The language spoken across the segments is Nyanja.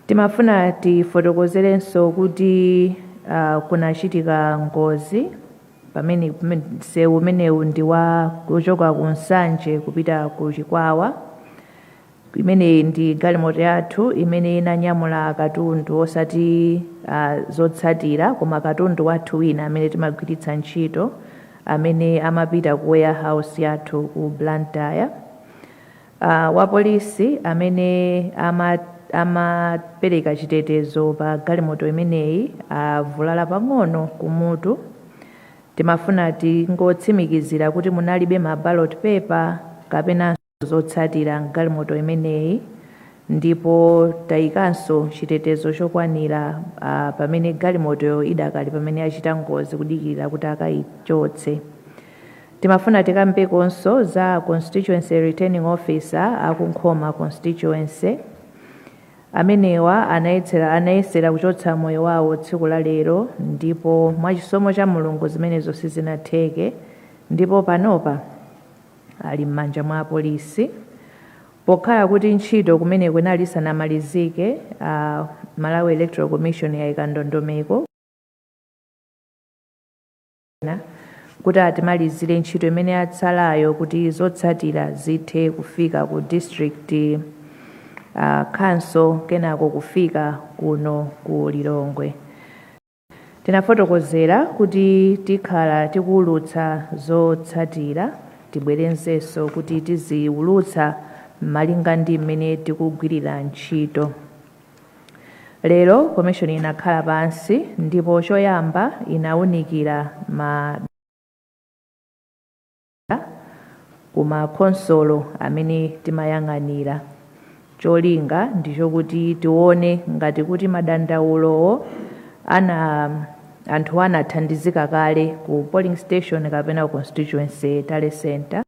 Timafuna tifotokozerenso kuti ah, kunachitika ngozi pamene pamene msewu umenewu ndi wa kuchoka ku Nsanje kupita ku Chikwawa imeneyi ndi galimoto yathu imene inanyamula katundu osati ah, zotsatira koma katundu wathu wina amene timagwiritsa ntchito amene amapita ku warehouse yathu ku Blantyre A, wapolisi amene ama, amapereka chitetezo pa galimoto imeneyi avulala pang'ono kumutu. Timafuna tingotsimikizira kuti munalibe ma ballot paper kapenanso zotsatira m'galimoto imeneyi ndipo tayikanso chitetezo chokwanira a, pamene galimotoyo idakali pamene yachita ngozi kudikirira kuti akayichotse. Timafuna tikambekonso za Constituency Returning Officer a ku Nkhoma Constituency. Amenewa anayetsera anayesera kuchotsa moyo wawo tsiku la lero ndipo mwachisomo cha Mulungu zimenezo sizinatheke ndipo panopa ali m'manja mwa apolisi. Pokhala kuti ntchito kumeneko inali isanamalizike, a Malawi Electoral Commission yaika ndondomeko ena kuti atimalizire ntchito imene yatsalayo kuti zotsatira zithe kufika ku district uh, council kenako kufika kuno ku Lilongwe. Tinafotokozera kuti tikhala tikuwulutsa zotsatira tibwerenzenso kuti tiziwulutsa malinga ndi mmene tikugwirira ntchito. Lero komishoni inakhala pansi ndipo choyamba inawunikira ma ku ma khonsolo amene timayang'anira. Cholinga ndi chokuti tione ngati kuti madandaulowo ana anthu anathandizika kale ku polling station kapena ku constituency tally centre.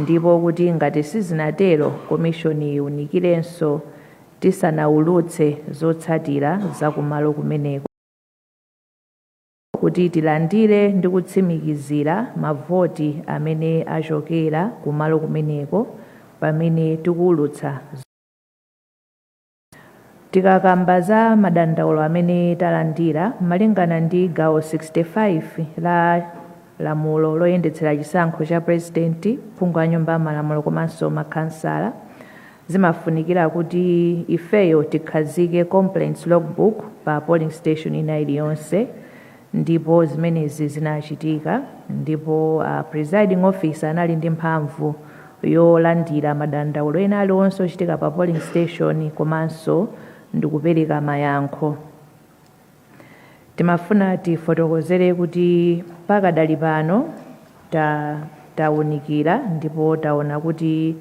ndipo kuti ngati sizinatero komishoni iunikirenso tisanaulutse zotsatira za kumalo kumeneko kuti tilandire ndi kutsimikizira mavoti amene achokera kumalo kumeneko pamene tikuulutsa Tikakamba za madandaulo amene talandira malingana ndi gawo 65 la lamulo loyendetsera chisankho cha pulezidenti, phungu wa nyumba ya malamulo komanso makhansala, zimafunikira kuti ifeyo tikhazike complaints log book pa polling station ina iliyonse. Ndipo zimenezi zinachitika, ndipo a, presiding officer anali ndi mphamvu yolandira madandaulo ena aliwonse ochitika pa polling station komanso ndikupereka mayankho. Timafuna tifotokozere kuti pakadali pano. Ta taunikira ndipo taona kuti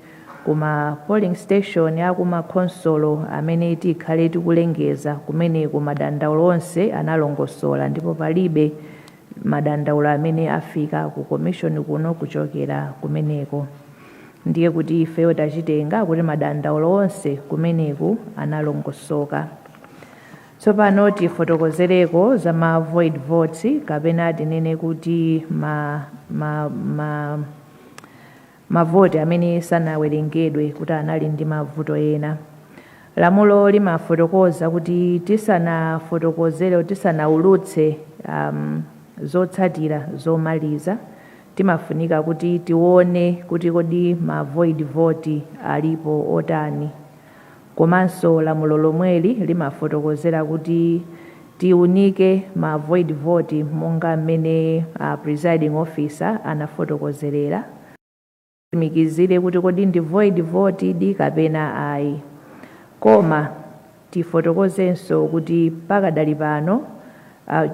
ku ma polling station a ku ma khonsolo amene tikhale tikulengeza kumeneku madandaulo onse analongosola ndipo palibe madandaulo amene afika ku commission kuno kuchokera kumeneko. Ndiye kuti ifeyo tachitenga kuti madandaulo onse kumeneku analongosoka. Tsopano tifotokozereko za ma void votes kapena tinene kuti ma, ma, ma, mavoti amene sanawerengedwe kuti anali ndi mavuto ena. Lamulo limafotokoza kuti tisanafotokozere tisanaulutse um, zotsatira zomaliza timafunika kuti tione kuti kodi ma void vote alipo otani Komanso lamulo lomweli limafotokozera kuti tiunike ma void vote monga mmene a presiding officer anafotokozerera kuti titsimikizire kuti kodi ndi void vote di kapena ayi. Koma tifotokozenso kuti pakadali pano a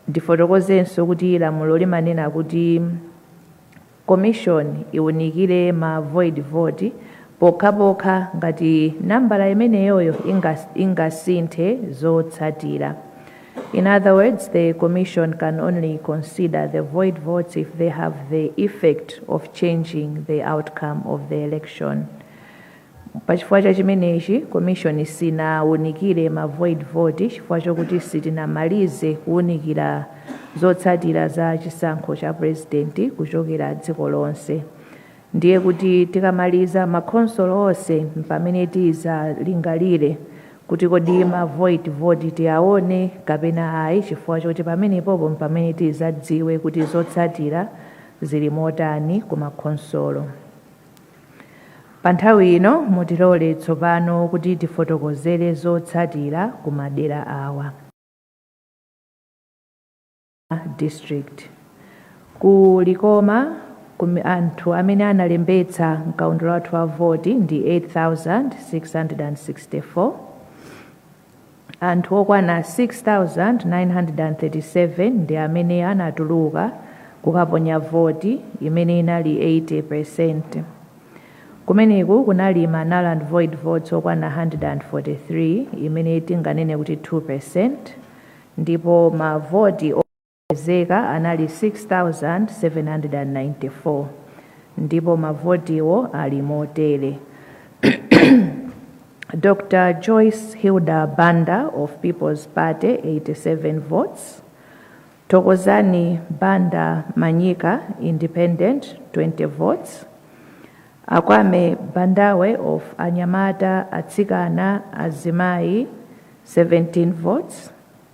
Ndifotokozenso kuti lamulo limanena kuti. Commission iwunikire ma void vote pokhapokha ngati nambala imeneyoyo ingasinthe zotsatira. In other words, the Commission can only consider the void votes if they have the effect of changing the outcome of the election. Pachifukwa cha chimenechi, commission sinawunikire ma void vote chifukwa chokuti sitinamalize kuwunikira zotsatira za chisankho cha president kuchokera dziko lonse. Ndiye kuti tikamaliza ma khonsolo onse mpamene tizalingalire kuti kodi ma void vote tiawone kapena ayi chifukwa choti pamenepopo mpamene tizadziwe kuti zotsatira zili motani ku ma khonsolo. Pa nthawi ino, mutilole tsopano kuti tifotokozere zotsatira ku madera awa. District. Ku Likoma, ku, anthu amene analembetsa mkaundula wathu wa voti ndi 8,664. Anthu okwana 6,937 ndi amene anatuluka kukaponya voti, imene inali 80 peresenti. Kumeneku kunali ma null and void votes okwana 143, imene tinganene kuti 2 peresenti, ndipo mavoti opezeka anali 6,794 ndipo mavotiwo ali motere, Dr Joyce Hilda Banda of People's Party 87 votes, Thokozani Banda Manyika Independent 20 votes, Akwame Bandawe of Anyamata, Atsikana, Azimayi 17 votes,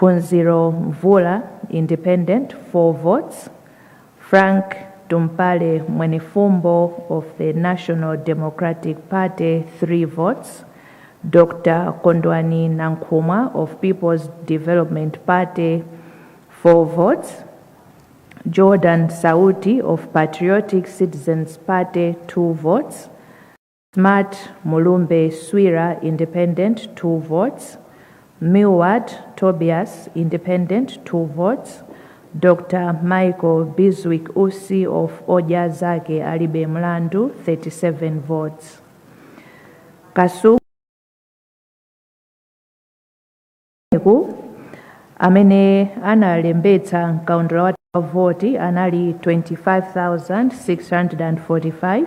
Phunziro Mvula independent 4 votes Frank Tumpale Mwenifumbo of the National Democratic Party 3 votes Dr Kondwani Nankhumwa of Peoples Development Party 4 votes Jordan Sauti of Patriotic Citizens Party 2 votes Smart Mulumbe Swira, Independent, 2 votes, Milward Tobias, Independent, 2 votes, Dr Michael Bizwick Usi of Odya Zake Alibe Mlandu, 37 votes. Kasungu amene analembetsa mkaundula wathu wa voti anali 25,645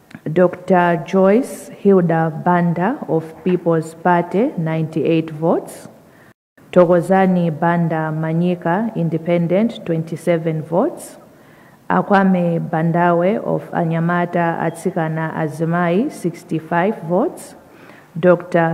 Dr Joyce Hilda Banda of People's Party 98 votes, Thokozani Banda Manyika Independent 27 votes, Akwame Bandawe of Anyamata Atsikana Azimayi 65 votes, Dr.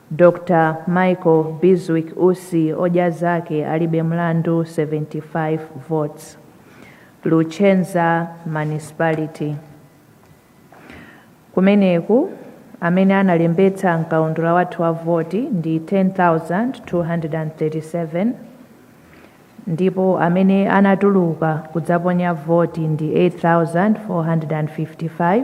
Dr. Michael Bizwick Usi odya zake alibe mlandu 75 votes. Luchenza Municipality. Kumeneku amene analembetsa mkaundula wathu wa voti ndi 10,237 ndipo amene anatuluka kudzaponya voti ndi 8,455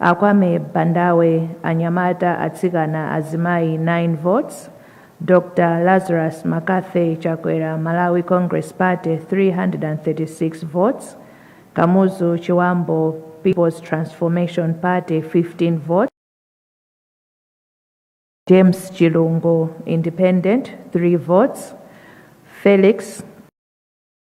A Kwame Bandawe Anyamata Atsikana Azimayi 9 votes Dr Lazarus Mccarthy Chakwera Malawi Congress Party 336 votes Kamuzu Chiwambo Peoples Transformation Party 15 votes James Chilungo Independent 3 votes Felix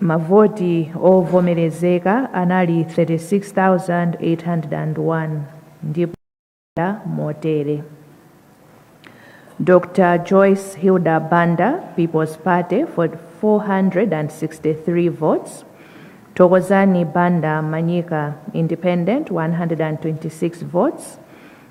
Mavoti ovomerezeka anali 36,801 ndipo anayenda motere, Dr. Joyce Hilda Banda, People's Party, 463 votes, Thokozani Banda Manyika, Independent, 126 votes,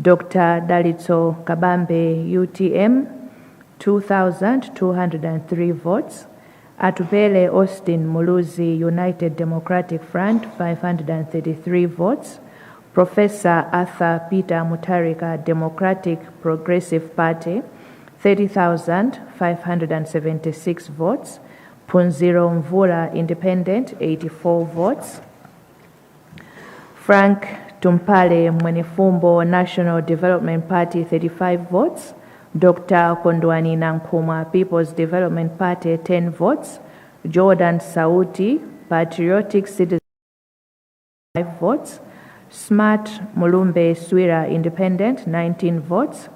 Dr Dalitso Kabambe utm 2203 votes, Atupele Austin Muluzi United Democratic Front 533 votes, Prof Arthur Peter Mutharika Democratic Progressive Party 30,576 votes, Phunziro Mvula Independent 84 votes, Frank Tumpale Mwenefumbo National Development Party 35 votes, Dr Kondwani Nankhumwa People's Development Party 10 votes, Jordan Sauti Patriotic Citizen 5 votes, Smart Mulumbe Swira Independent 19 votes,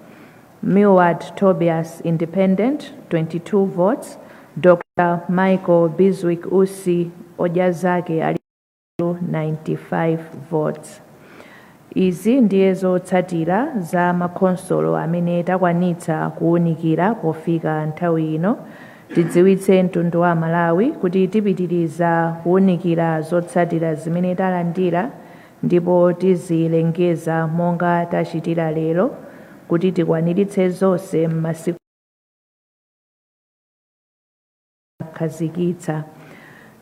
Milward Tobias Independent 22 votes, Dr Michael Bizwick Usi Ojazake ali 95 votes. Izi ndiye zotsatira za makhonsolo amene takwanitsa kuwunikira pofika nthawi ino. Tidziwitse mtundu wa Malawi kuti tipitiriza kuwunikira zotsatira zimene talandira ndipo tizilengeza monga tachitira lero kuti tikwaniritse zonse m'masiku akhazikitsa.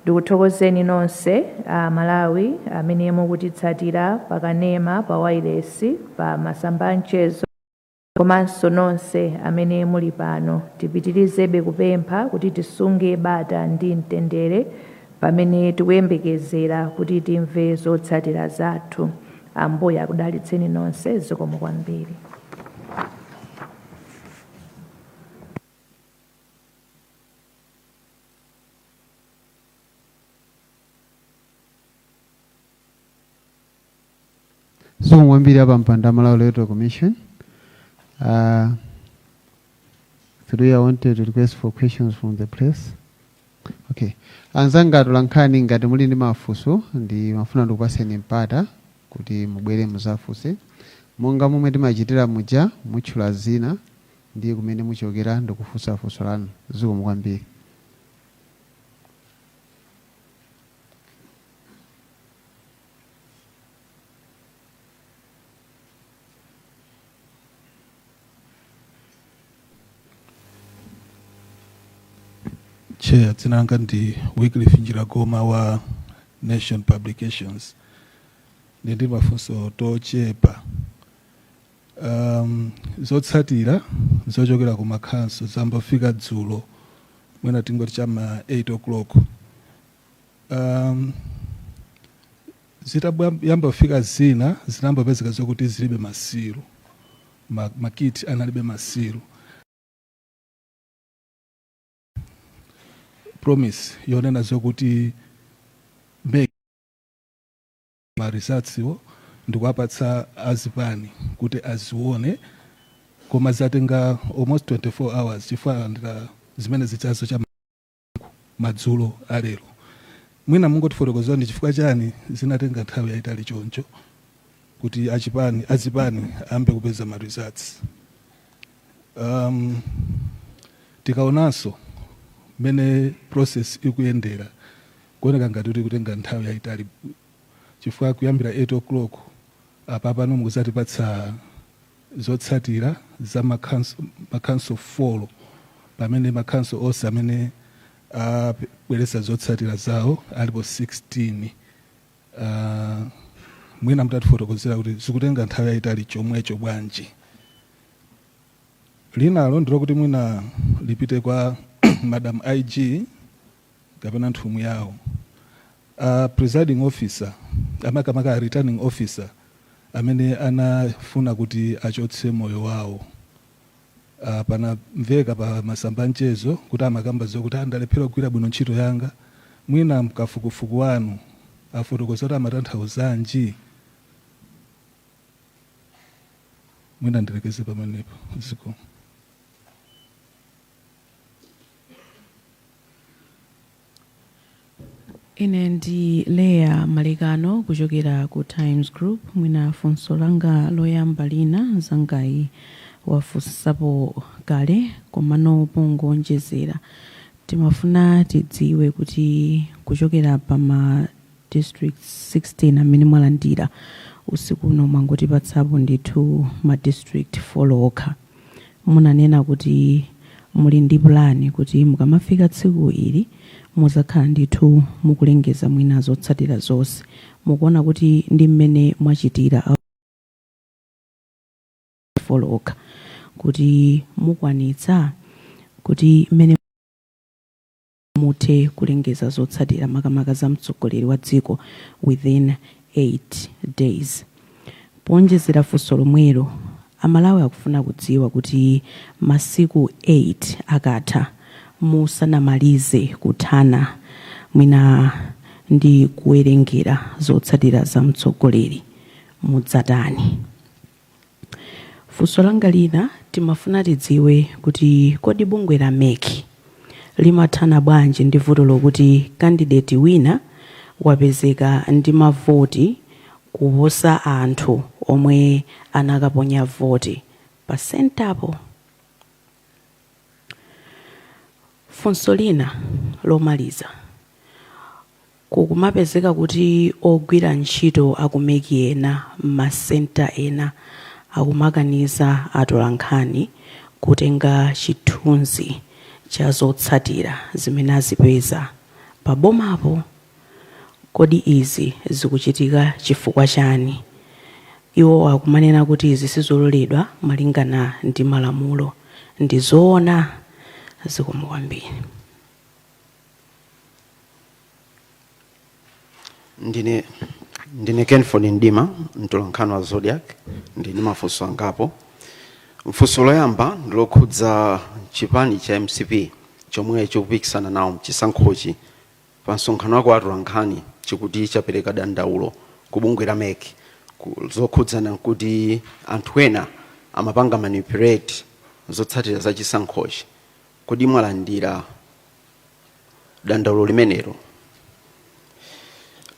Ndikuthokozeni nonse a Malawi amene mukutitsatira pa kanema, pa wailesi, pa masamba a mchezo komanso nonse amene muli pano. Tipitirizebe kupempha kuti tisunge bata ndi mtendere pamene tikuyembekezera kuti timve zotsatira zathu. Ambuye akudalitseni nonse. Zikomo kwambiri. zikomo kwambiri a pampando a malawi electoral commission uh, three i wanted to request for questions from the press okay anzanga atolankhani ngati muli ndi mafunso ndimafuna ndikupaseni mpata kuti mubwere muzafunse monga momwe timachitira muja mutchula dzina Ndi kumene muchokera ndikufunsa funso lanu. Zikomo kwambiri. Chair, dzina langa ndi Wycliffe Njiragoma wa Nation Publications. Ndili ndi timafunso tochepa. Um, zotsatira zochokera ku makhonsolo zayamba kufika dzulo mwina tingoti cha ma 8 o'clock um, zitayamba kufika zina zinayamba kupezeka zokuti zilibe ma seal ma, makiti analibe ma seal promise yonena zokuti ma results wo ndikuwapatsa a zipani kuti aziwone koma zatenga almost 24 hours chifukwa alandira zimene zijazo cha madzulo a lero. Mwina mungotifotokozera ndi chifukwa chani zinatenga nthawi yayitali choncho kuti achipani azipani ayambe kupeza ma results. Um, tikaonanso mmene process ikuyendera Kuoneka ngati kuti ikutenga nthawi yaitali chifukwa kuyambira 8 o'clock apa pano mukuzatipatsa zotsatira za ma council 4 pamene ma council onse amene abweretsa zotsatira zawo alipo 16 aah mwina mutatifotokozera kuti zikutenga nthawi yaitali chomwecho bwanji. Linalo ndilokuti mwina lipite kwa Madam IG. kapena nthumwi yawo. A presiding officer, makamaka a returning officer amene anafuna kuti achotse moyo wawo, ah, panamveka pa masamba a mchezo kuti amakamba zokuti ah, ndalephera kugwira bwino ntchito yanga, mwina mkafukufuku wanu afotokozera kuti amatanthauzanji? Mwina ndilekeze pamenepo. Zikomo. ine ndi leah malekano kuchokera ku times group mwina funso langa loyamba lina anzangayi wafunsapo kale komano pongonjezera timafuna tidziwe kuti kuchokera pa ma district 16 amene mwalandira usiku uno mwangotipatsapo ndithu ma district 4 okha munanena kuti muli ndi pulani kuti mukamafika tsiku ili muzakhala ndithu mukulengeza mwina zotsatira zonse. Mukuona kuti ndi mmene mwachitira a 4 okha kuti mukwanitsa kuti mmene muthe kulengeza zotsatira makamaka za mtsogoleri wa dziko within 8 days. Poonjezera funso lomwelo, a Malawi akufuna kudziwa kuti masiku 8 akatha musanamalize kuthana mwina ndi kuwerengera zotsatira za mtsogoleri, mudzatani? Funso langa lina timafuna tidziwe kuti kodi bungwe la mec limathana bwanji ndi vuto lokuti candidate wina wapezeka ndi mavoti kuposa anthu omwe anakaponya voti pa centre po? Funso lina lomaliza. Kukumapezeka kuti ogwira ntchito a ku mec ena m'ma centre ena akumakaniza atolankhani kutenga chithunzi cha zotsatira zimene azipeza pa bomapo. Kodi izi zikuchitika chifukwa chani? Iwo akumanena kuti izi sizololedwa malingana ndi malamulo. Ndi zoona? Zikomo kwambiri. ndine kenford mdima mtolankhani wa zodiak ndili ndi mafunso angapo mfunso loyamba ndilokhudza chipani cha mcp chomwe chikupikisana nawo mchisankhochi pa msonkhano wa atolankhani chikuti chapereka dandaulo ku bungwe la mec zokhudzana nkuti anthu ena amapanga manipulate zotsatira za chisankhochi kodi mwalandira dandaulo limenelo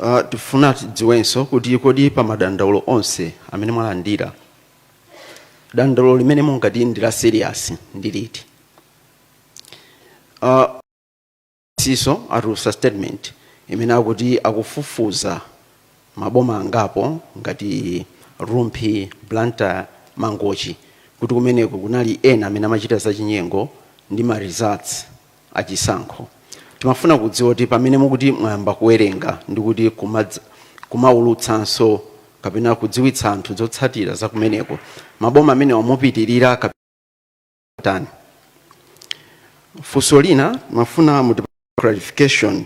uh, tifuna tidziwenso kuti kodi pa madandaulo onse amene mwalandira dandaulo limene mungati ndi la serious ndi liti uh, CSO atulusa statement imene akuti akufufuza maboma angapo ngati Rumphi, Blantyre, Mangochi kuti kumeneko kunali ena amene amachita zachinyengo ndi ma results a chisankho. Timafuna kudziwa kuti pamene mukuti mwayamba kuwerenga ndi kuti kumaulutsanso kapena kudziwitsa anthu zotsatira za kumeneko, maboma amenewa mupitirira kape tani funso lina timafuna mu clarification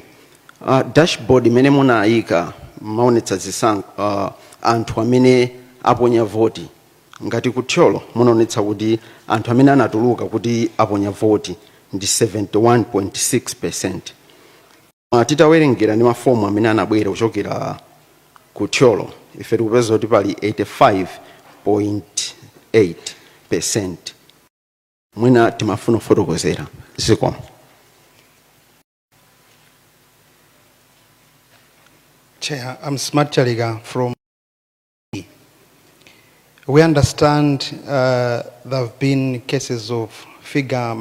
uh, dashboard imene munayika imaonetsa zisankho uh, anthu amene aponya voti ngati ku Thyolo munaonetsa kuti anthu amene anatuluka kuti aponya voti ndi 71.6 percent Koma titawerengera ndi mafomu amene anabwera kuchokera ku Thyolo ife tikupeza kuti pali 85.8 percent mwina timafuna kufotokozera zikomo Chair, I'm Smart Chaliga from. We understand uh, there have been cases of figure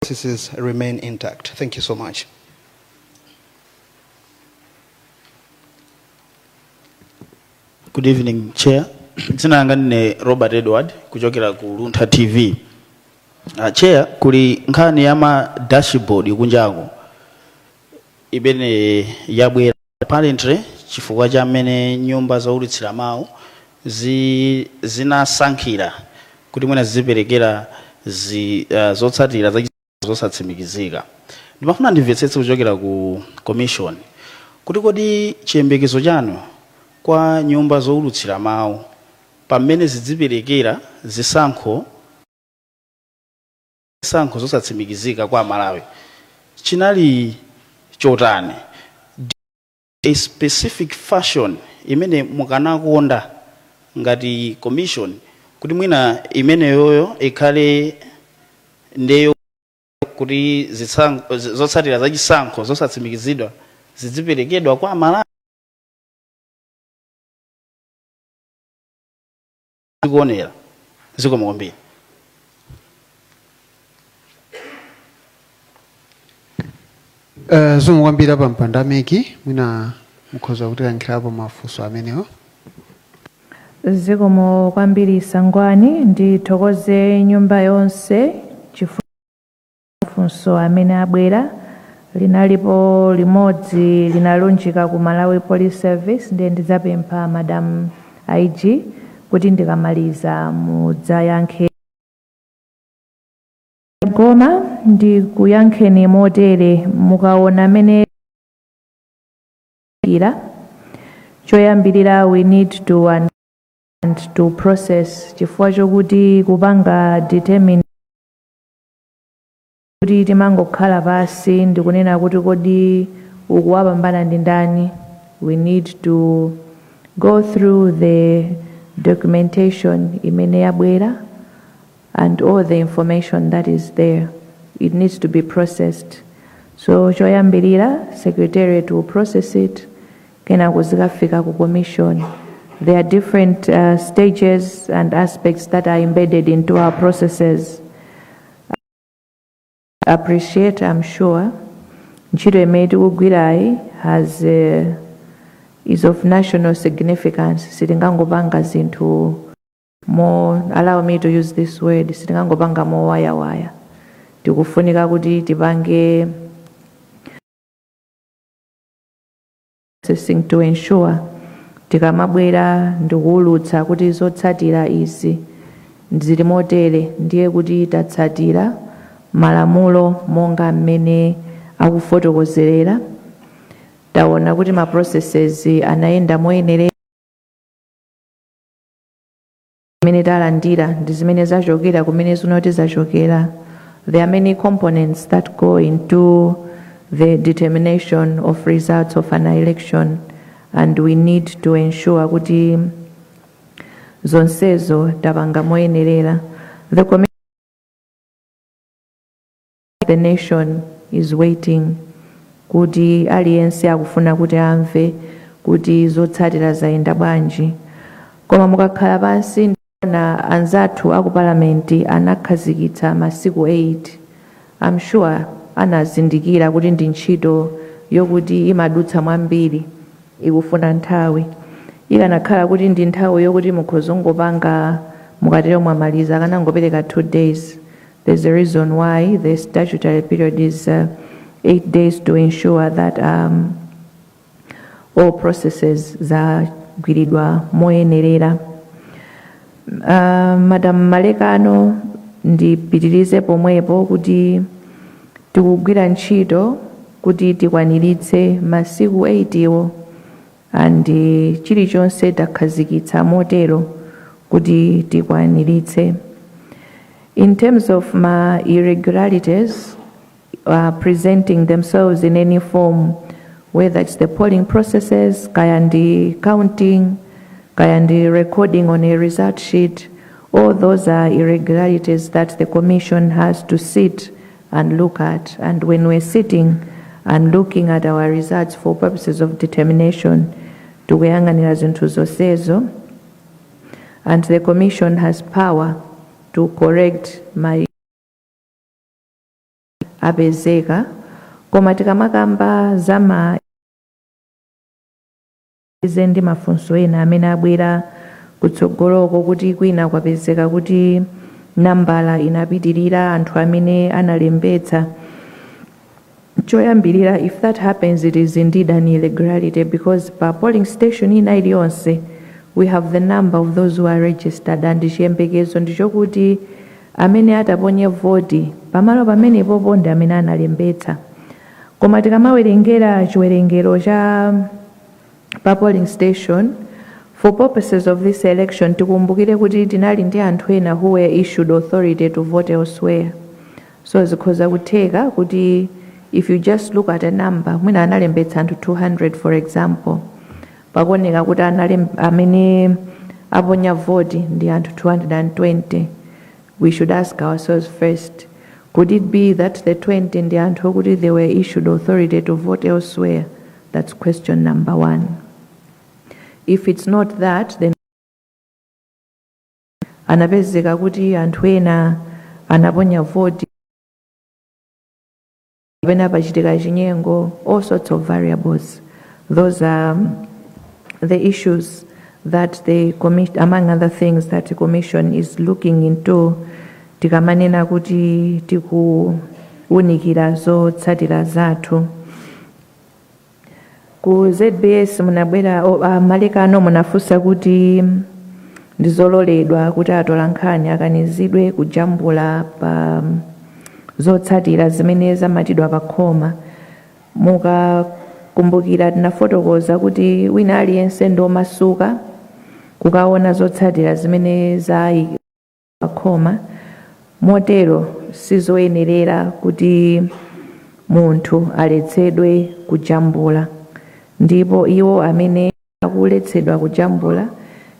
processes remain intact. Thank you so much. Good evening, Chair. Dzina langa ndine Robert Edward kuchokera ku Luntha TV. Uh, Chair, kuli nkhani ya ma dashboard kunjako imene yabwera Apparently chifukwa cha mmene nyumba zoulutsira mawu zi, zinasankhira kuti mwina zidziperekera zi, uh, zotsatira za chi, zosatsimikizika, ndimafuna ndimvetsetse kuchokera ku Commission kuti kodi chiyembekezo chanu kwa nyumba zoulutsira mawu pa mmene zidziperekera zisankho, zisankho zosatsimikizika kwa Amalawi chinali chotani? Do a specific fashion imene mukanakonda ngati commission kuti mwina imeneyoyo ikhale ndiyo kuti zitsankho, zotsatira za chisankho zosatsimikizidwa zidziperekedwa kwa Amalawi? zikuonera zikomo kwambiri zikomo kwambiri a Mpanda Mwepo mwina mukhoza kutiyankhirapo mafunso amenewo zikomo kwambiri Sangwani ndithokoze nyumba yonse chifukwa mafunso amene abwera linalipo limodzi linalunjika ku Malawi Police Service ndiye ndidzapempha Madam IG kuti ndikamaliza mudzayankhe koma ndikuyankheniko motere mukaona mene ira choyambirira we need time to process chifukwa chokuti kupanga determine kuti timangokhala pansi ndikunena kuti kodi uku wapambana ndi ndani we need to go through the documentation imene yabwera and all the information that is there it needs to be processed so choyambirira secretariat will process it kenako zikafika ku commission there are different uh, stages and aspects that are embedded into our processes appreciate i'm sure ntchito imene tikugwirayi has is of national significance sitingangopanga zinthu mo allow me to use this word sitingangopanga mowayawaya tikufunika kuti tipange processing to ensure tikamabwera ndikuwulutsa kuti zotsatira izi zili motere ndiye kuti tatsatira malamulo monga mmene akufotokozerera taona kuti ma processes anayenda moyenerera zimene talandira ndi zimene zachokera kumene zikuti zachokera there are many components that go into the determination of results of an election and we need to ensure kuti zonsezo tapanga moyenerera the commi- the nation is waiting kuti aliyense akufuna kuti amve kuti zotsatira zayenda bwanji koma mukakhala pansi ndikuona anzathu aku palamenti anakhazikitsa masiku 8 i'm sure anazindikira kuti ndi ntchito yokuti imadutsa mwambiri ikufuna nthawi ikanakhala kuti ndi nthawi yokuti mukhozongopanga mukatero mwamaliza akanangopereka 2 days There's a reason why the statutory period is uh, eight days to ensure that um, all processes zagwiridwa moyenerera. Uh, Madam Malekano ndipitirize pomwepo kuti tikugwira ntchito kuti tikwaniritse masiku 8 iwo and chilichonse takhazikitsa motero kuti tikwaniritse in terms of ma irregularities uh, presenting themselves in any form whether it's the polling processes kaya ndi counting kaya ndi recording on a result sheet all those are irregularities that the commission has to sit and look at and when we're sitting and looking at our results for purposes of determination tikuyang'anira zinthu zonsezo and the commission has power to correct my apezeka koma tikamakamba za ma Tize ndi mafunso ena amene abwera kutsogoloko kuti kwina kwapezeka kuti nambala inapitirira anthu amene analembetsa. Choyambirira, if that happens it is indeed an irregularity because pa polling station ina iliyonse we have the number of those who are registered and chiyembekezo ndichokuti amene ataponye voti pamalo pamenepopo ndi amene analembetsa. Koma tikamawerengera chiwerengero cha pa polling station for purposes of this election tikumbukire kuti tinali ndi anthu ena who were issued authority to vote elsewhere so zikhoza kutheka kuti if you just look at a number mwina analembetsa anthu 200 for example pakuoneka kuti analem- amene aponya voti ndi anthu 220 we should ask ourselves first could it be that the 20 ndi anthu okuti they were issued authority to vote elsewhere That's question number one. If it's not that, then anapezeka kuti anthu ena anaponya voti kapena pachitika chinyengo all sorts of variables those are um, the issues that the commission among other things that the commission is looking into tikamanena kuti tikuwunikira zotsatira zathu ku zbs munabwera o- a malekano munafunsa kuti ndizololedwa kuti atolankhani akanizidwe kujambula pa zotsatira zimene zamatidwa pa khoma mukakumbukira tinafotokoza kuti wina aliyense ndi omasuka kukaona zotsatira zimene zayi pakhoma. Motero sizoyenerera kuti munthu aletsedwe kujambula. Ndipo iwo amene akuletsedwa kujambula,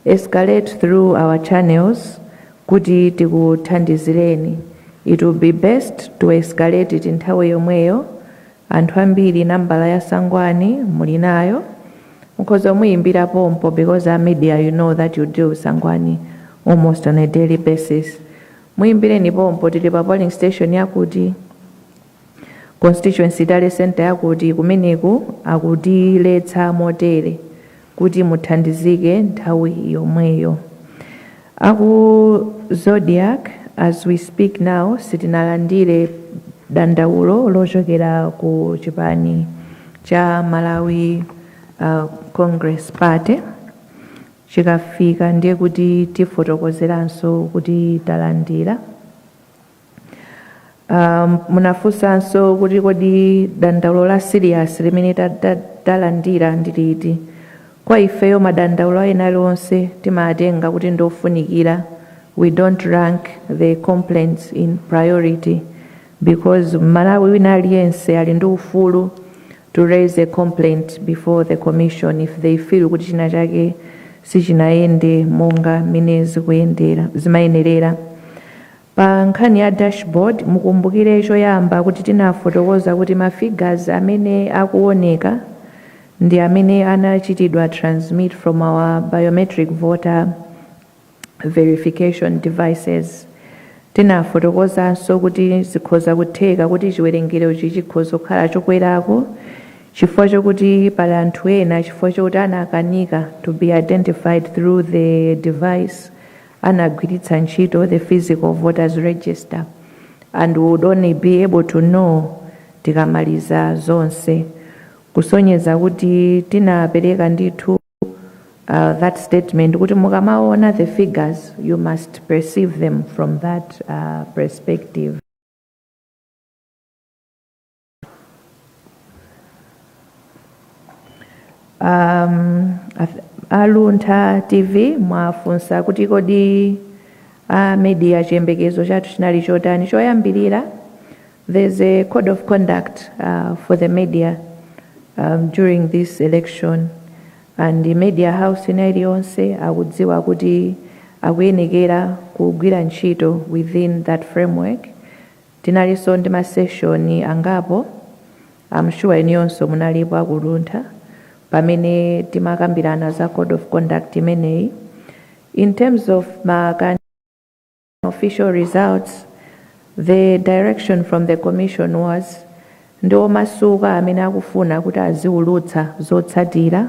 escalate through our channels kuti tikuthandizireni. It will be best to escalate it nthawi yomweyo Anthu ambiri nambala ya Sangwani muli nayo, mukhoza kumuyimbira pompo because as media you know that you deal with Sangwani almost on a daily basis. Muyimbireni pompo tili pa polling station yakuti, constituency tally centre yakuti kumeneku akutiletsa motere. kuti muthandizike nthawi yomweyo. A ku Zodiak as we speak now sitinalandire dandaulo lochokera ku chipani cha Malawi Congress Party. Chikafika ndiye kuti tifotokozeranso kuti talandira. Um, munafunsanso kuti kodi dandaulo la serious limene ta- ta- talandira ndi liti kwa ifeyo madandaulo ena alionse timatenga kuti ndi ofunikira we don't rank the complaints in priority because mmalawi wina aliyense ali ndi ufulu to raise a complaint before the commission if they feel kuti china chake sichinayende monga mmene zimayenerera Pa nkhani ya dashboard, mukumbukire choyamba kuti tinafotokoza kuti ma figures amene akuoneka ndi amene anachitidwa transmit from our biometric voter verification devices. Tinafotokozanso kuti zikhoza kutheka kuti chiwerengerochi chikhoza kukhala chokwerako chifukwa chokuti pali anthu ena chifukwa chokuti anakanika to be identified through the device anagwiritsa ntchito the physical voters register and will only be able to know tikamaliza zonse kusonyeza kuti tinapereka ndithu uh, that statement kuti mukamaona the figures you must perceive them from that uh, perspective um, ath- a Luntha TV mwafunsa kuti kodi a media chiyembekezo chathu chinali chotani choyambirira there's a code of conduct uh, for the media um, during this election and the media house ina iliyonse akudziwa kuti akuyenekera kugwira ntchito within that framework Tinalinso ndi ma session angapo, am sure inuyonso munalipo aku Luntha, pamene timakambirana za code of conduct imeneyi. In terms of ma official results, the direction from the commission was, ndi omasuka amene akufuna kuti aziulutsa zotsatira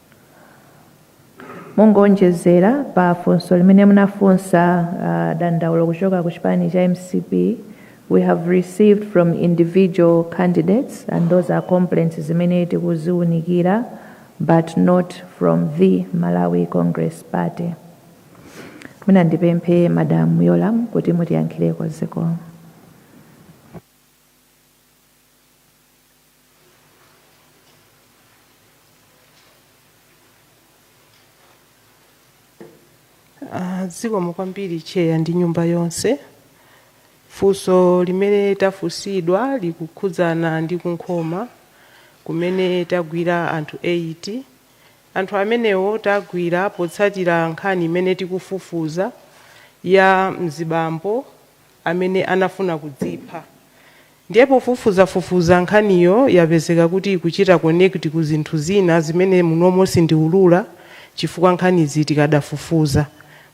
Mongowonjezera pa funso limene munafunsa dandaulo kuchoka ku chipani cha mcp we have received from individual candidates and those are complaints zimene tikuziunikira but not from the Malawi Congress Party. Mwina ndipemphe Madam Yolam kuti mutiyankhireko zikomo. Ah, zikomo kwambiri cheya ndi nyumba yonse funso limene tafunsidwa likukhudzana ndi ku Nkhoma kumene tagwira anthu 8 anthu amenewo tagwira potsatira nkhani imene tikufufuza ya mzibambo amene anafuna kudzipha. Ndiye pofufuzafufuza nkhaniyo yapezeka kuti ikuchita connect ku zinthu zina zimene munomo sindiulula chifukwa nkhanizi tikadafufuza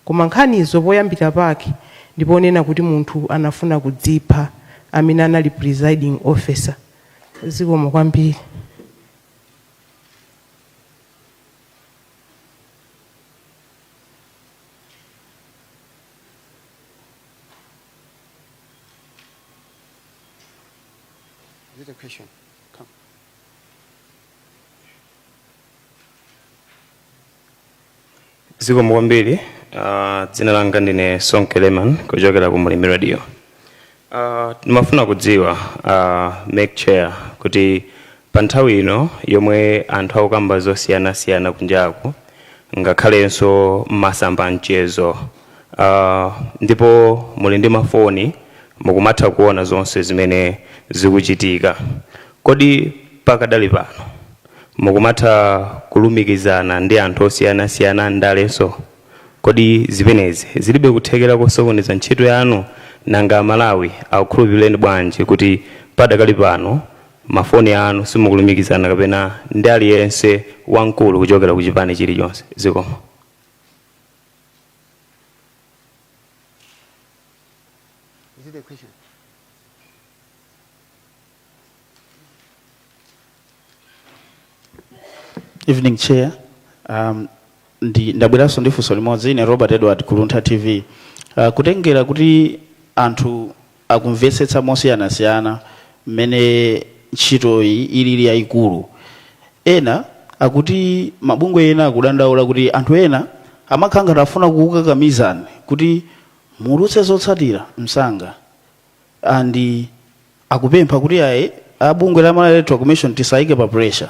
koma nkhanizo poyambira pake ndi ponena kuti munthu anafuna kudzipha amene anali presiding officer. Zikomo kwambiri. Is it a question? Come. zikomo kwambiri Ah, dzina langa ndine sonke leman kuchokera ku mulimi radio Ah, ndimafuna kudziwa ah, mayi chair kuti Pa nthawi ino yomwe anthu akukamba zosiyanasiyana kunjaku ngakhalenso mmasamba amchezo aah ndipo muli ndi mafoni mukumatha kuona zonse zimene zikuchitika kodi pakadali pano mukumatha kulumikizana ndi anthu osiyanasiyana andalenso? Kodi zimenezi zilibe kuthekera kosokoneza ntchito yanu? Nanga amalawi akukhulupireni bwanji kuti padakali pano mafoni anu simukulumikizana kapena ndi aliyense wamkulu kuchokera ku chipani chilichonse zikomo Is it a question? Evening Chair, um, Ndabweranso ndi funso limodzi. Ine Robert Edward ku Luntha TV. Uh, kutengera kuti anthu akumvetsetsa mosiyanasiyana mmene ntchitoyi ilili yayikulu. Ena akuti mabungwe ena akudandaula kuti anthu ena amakhala ngati afuna kukukakamizani kuti muwulutse zotsatira msanga and akupempha kuti ayi a bungwe la Malawi Electoral Commission tisayike pa pressure.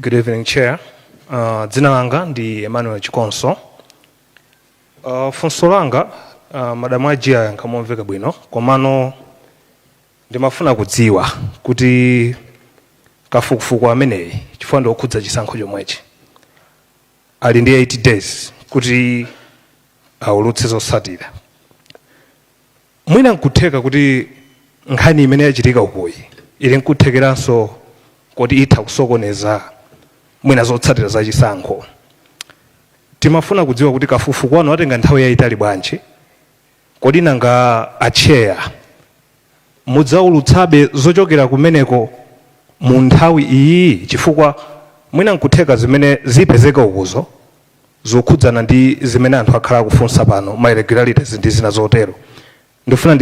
Good evening, Chair. Uh, dzina langa ndi Emmanuel Chikonso. Uh, funso langa uh, madam IG ayankha momveka bwino komano ndimafuna kudziwa kuti kafukufuku ameneyi chifukwa ndi okhudza chisankho chomwechi ali ndi 8 days kuti aulutse zotsatira Mwina n'kutheka kuti nkhani imene yachitika ukuyi ili n'kuthekeranso koti itha kusokoneza mwina zotsatira za chisankho. Timafuna kudziwa kuti kafukufuku wanu atenga nthawi yaitali bwanji? Kodi nanga a Chair mudzaulutsabe zochokera kumeneko mu nthawi iyiyi chifukwa mwina n'kutheka zimene zipezeke ukuzo zokhudzana ndi zimene anthu akhala akufunsa pano, ma irregularities ndi zina zotero. Ndifuna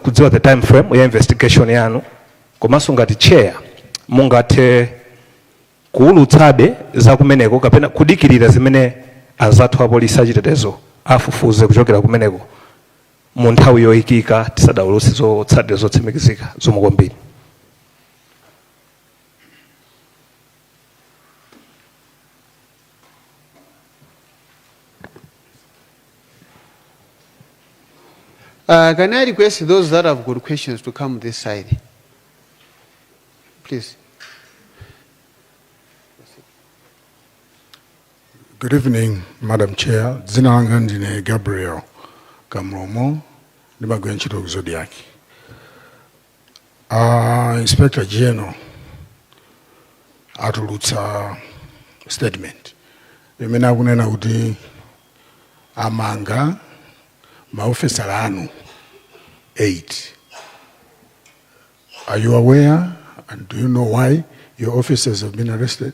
kudziwa the time frame ya investigation yanu komanso ngati chair mungathe kuwulutsabe za kumeneko kapena kudikirira zimene anzathu apolisi achitetezo afufuze kuchokera kumeneko mu nthawi yoyikika tisadawulutse zotsatira zotsimikizika. Zikomo kwambiri. Uh, can I request those that have got questions to come this side? Please. Good evening, Madam Chair. Dzina langa ndine Gabriel Kamlomo, ndimagwira ntchito ku Zodiak. Uh, Inspector General atulutsa statement imene akunena kuti amanga maofesala anu 8 are you aware and do you know why your officers have been arrested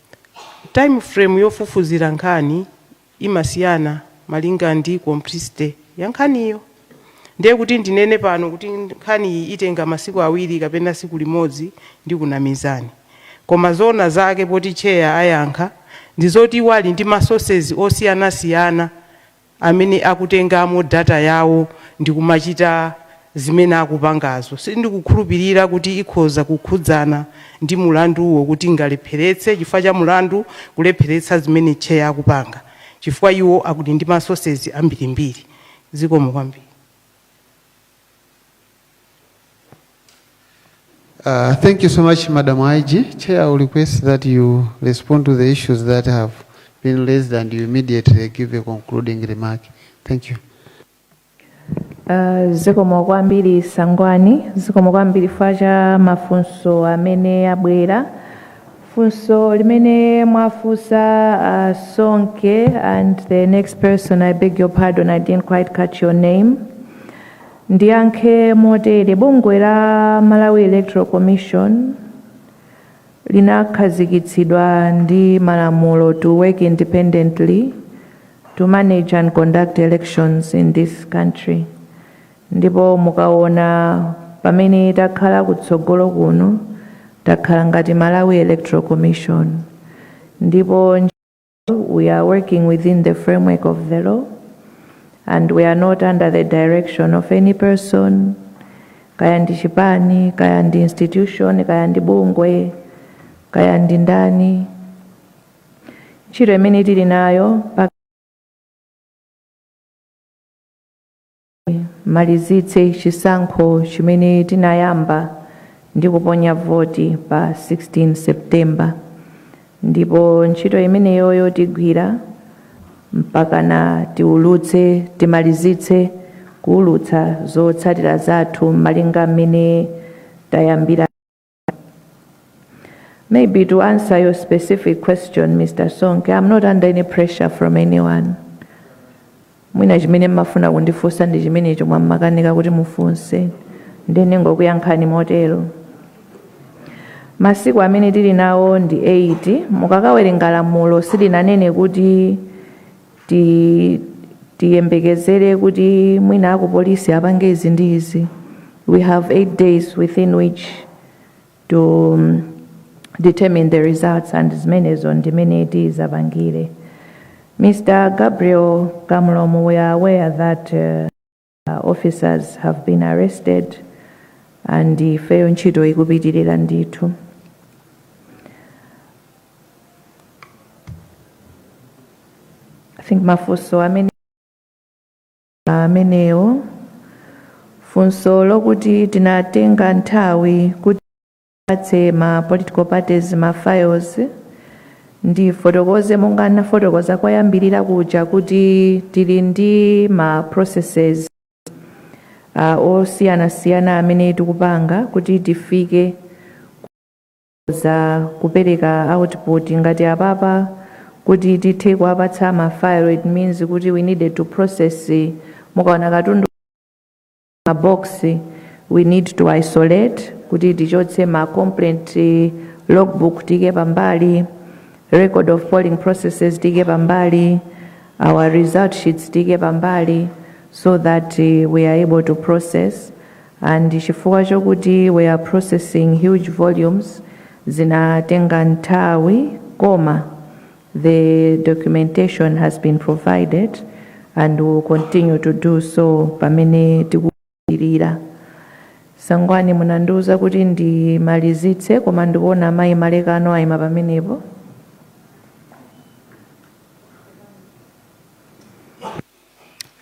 Time frame yofufuzira nkhani imasiyana malinga ndi complexity ya nkhaniyo. Ndiye kuti ndinene pano kuti nkhani iyi itenga masiku awiri kapena tsiku limodzi ndikunamizani. Koma zoona zake poti chair ayankha ndi zoti iwo ali ndi ma sources osiyanasiyana amene akutengamo data yawo ndikumachita zimene akupangazo. Sindikukhulupilira kuti ikhoza kukhudzana ndi mulanduwo kuti ingalepheretse chifukwa cha mulandu kulepheretsa zimene chair akupanga chifukwa iwo akudi ndi ma sources ambirimbiri. Zikomo kwambiri. Uh, thank you so much, Madam IG. Chair, I will request that you respond to the issues that have been raised and you immediately give a concluding remark. Thank you. Uh, zikomo kwambiri Sangwani zikomo kwambiri chifukwa cha mafunso amene abwera Funso limene mwafunsa a Sonke and the next person, I beg your pardon, I didn't quite catch your name. Ndiyankhe motere, bungwe la Malawi Electoral Commission linakhazikitsidwa ndi malamulo to work independently to manage and conduct elections in this country. Ndipo mukaona pamene takhala kutsogolo kuno, takhala ngati Malawi Electoral Commission. Ndipo we are working within the framework of the law and we are not under the direction of any person, kaya ndi chipani, kaya ndi institution, kaya ndi bungwe, kaya ndi ndani. Ntchito imene tili nayo pa malizitse chisankho chimene tinayamba ndi kuponya voti pa 16 September ndipo ntchito imeneyoyo tigwira mpakana tiulutse timalizitse kuulutsa zotsatira zathu malinga mmene tayambira Maybe to answer your specific question, Mr. Sonke, I'm not under any pressure from anyone. mwina chimene mmafuna kundifunsa ndi chimenecho mmakanika kuti mufunse nde ningokuyankhani motero masiku amene tili nawo ndi 8 mukakawerenga lamulo silinanene kuti ti tiyembekezere kuti mwina akupolisi apange izi ndi izi we have eight days within which to um, determine the results and zimenezo ndimene tizapangire Mr. Gabriel Kamlomo we are aware that uh, uh, officers have been arrested and ifeyo ntchito ikupitirira ndithu I think mafunso amene amenewo funso lokuti tinatenga nthawi kuti apatse ma political parties ma files ndifotokoze monga ndinafotokoza koyambirira kuja kuti tili ndi ma processes uh, osiyanasiyana amene tikupanga kuti tifike za kupereka output ngati apapa kuti tithe kuwapatsa ma file it means kuti we needed to process mukaona katundu ma box we need to isolate kuti tichotse ma complaint eh, logbook tiike pambali record of polling processes tiike pambali our result sheets tiike pambali so that eh, we are able to process and chifukwa chokuti we are processing huge volumes zinatenga nthawi koma The documentation has been provided and will continue to do so pamene tikupitirira. Sangwani munandiuza kuti ndimalizitse koma ndikuona amayi Malekano ayima pamenepo.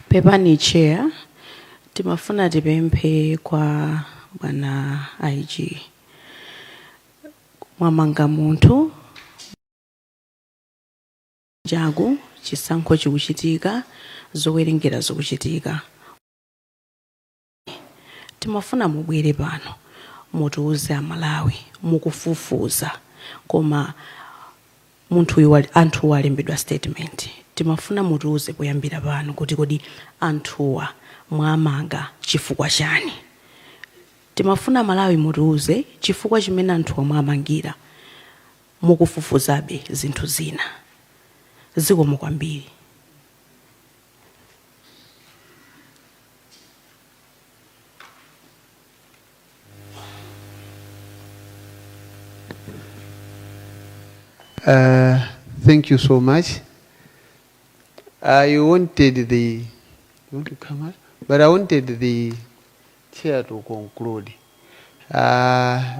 pepani chair timafuna tipemphe kwa bwana IG mwamanga munthu chaku chisankho chikuchitika zowerengera zikuchitika timafuna mubwere pano mutiuze amalawi mukufufuza koma munthuyu wali- anthuwa alembedwa statement timafuna mutiuze poyambira pano kuti kodi anthuwa mwamanga chifukwa chani timafuna malawi mutiuze chifukwa chimene anthuwa mwamangira mukufufuzabe zinthu zina? Zikomo kwambiri. Uh, thank you so much. I wanted the, you want to come out? But I wanted the chair to conclude. Uh,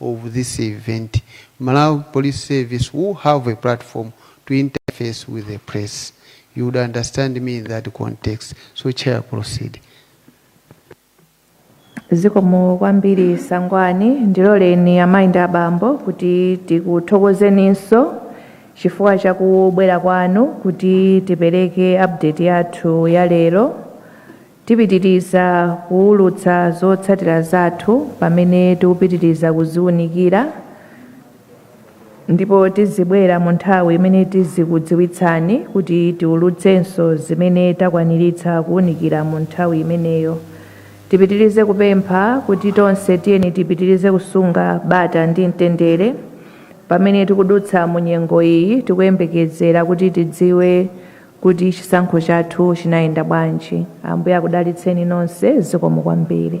of this event. Malawi Police Service will have a platform to interface with the press. You would understand me in that context. So, Chair, proceed. zikomo kwambiri Sangwani ndiloleni amayi ndi abambo kuti tikuthokozeninso chifukwa cha kubwera kwanu kuti tipereke update yathu ya lero Tipitiriza kuulutsa zotsatira zathu pamene tikupitiriza kuziunikira ndipo tizibwera mu nthawi imene tizikudziwitsani kuti tiulutsenso zimene takwaniritsa kuunikira mu nthawi imeneyo. Tipitirize kupempha kuti tonse tiyeni tipitirize kusunga bata ndi mtendere pamene tikudutsa mu nyengo iyi tikuyembekezera kuti tidziwe kuti chisankho chathu chinayenda bwanji. Ambuye akudalitseni nonse zikomo kwambiri.